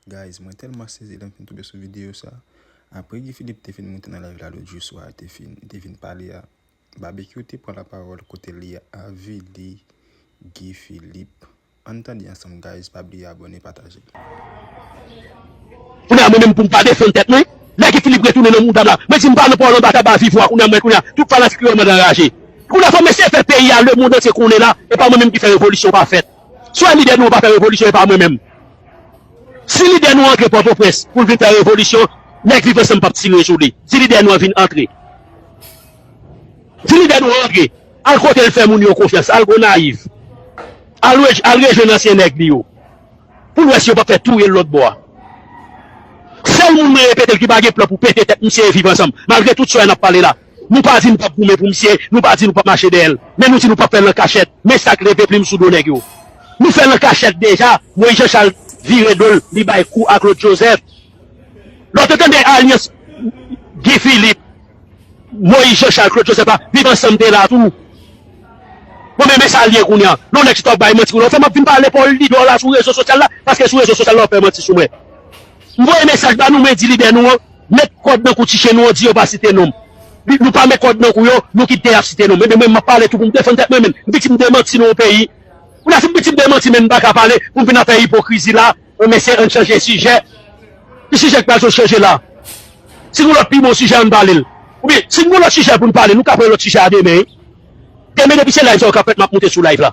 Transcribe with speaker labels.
Speaker 1: Guys mwen telman sezi lèm fin tonbe sou video sa Apre Guy Philippe te fin moute nan live la lòt jou swa te fin te vin pale a Babekyou te pran la pawòl kote li avili Guy Philippe Ann tande ansanm guys pa bliye abòne pataje.
Speaker 2: Kounya mwen menm poum pa defann tèt mwen lè Guy Philippe retounen nan moudam la mwen dim pa nan pawòl anba tab a viv wa kounya mwen kounya tout fanatik yo anmòd anraje kounya fòk mesye fè peyi a lemond antye konnen la epa mwen menm ki fè revolisyon pa fèt. Swè lidè nou an pa fè revolisyon epa mwen menm si lidè nou an antre pòtoprens poul vin fè revolisyon nèg viv ansanm pap tire sou li si lidè nou an vin antre si lidè nou an antre al kotel fè moun yo konfyans al gonayiv al rejwenn ansyen nèg li yo poul wè si yo pap fè touyel lòt bò a sèl moun mwen repetel ki pa gen plan pou pete tèt misye e viv ansanm malgre tout swè nap pale la. Nou pa di nou pap goumen pou misye, nou pa di nou pap mache dèyè l, men nou di nou pap fè l an kachèt, men sa k leve plim sou do nèg yo. Nou fè l an kachèt deja, Moyiz Janchal vire do l li bay kou a Klod Jozèf. Lè w te tande alyans Gi Filip, Moyiz Janchal, Klod Jozèf la, Viv Ansanm te la tou. Bon men men sa l ye kounye an. Lè w nèk chita w ap bay manti kounye an, w fè m ap vin pale Paul Lidor la sou rezo sosyal la, paske sou rezo sosyal la w ap fè manti sou mwen. M voye mesaj ba nou mwen di lidè nou an met kòd nan kou ti chen nou an di yo pa site nom li nou pa met kòd nan kou yo nou ki pte ap site nom ebyen mwen map pale tou poum defann tèt mwen menn m pitim de manti nan yon peyi ou la si m pitim de manti menn m paka pale poum vin ap fè ipokrizi la an mesye ann chanje sijè ki sijè ki pral sot chanje la si gon lòt pi bon sijè ann pale l oubyen si n gon lòt sijè poun pale nou ka pran lòt sijè a demen demen depi se live sa yo kap fèt map moute sou live la.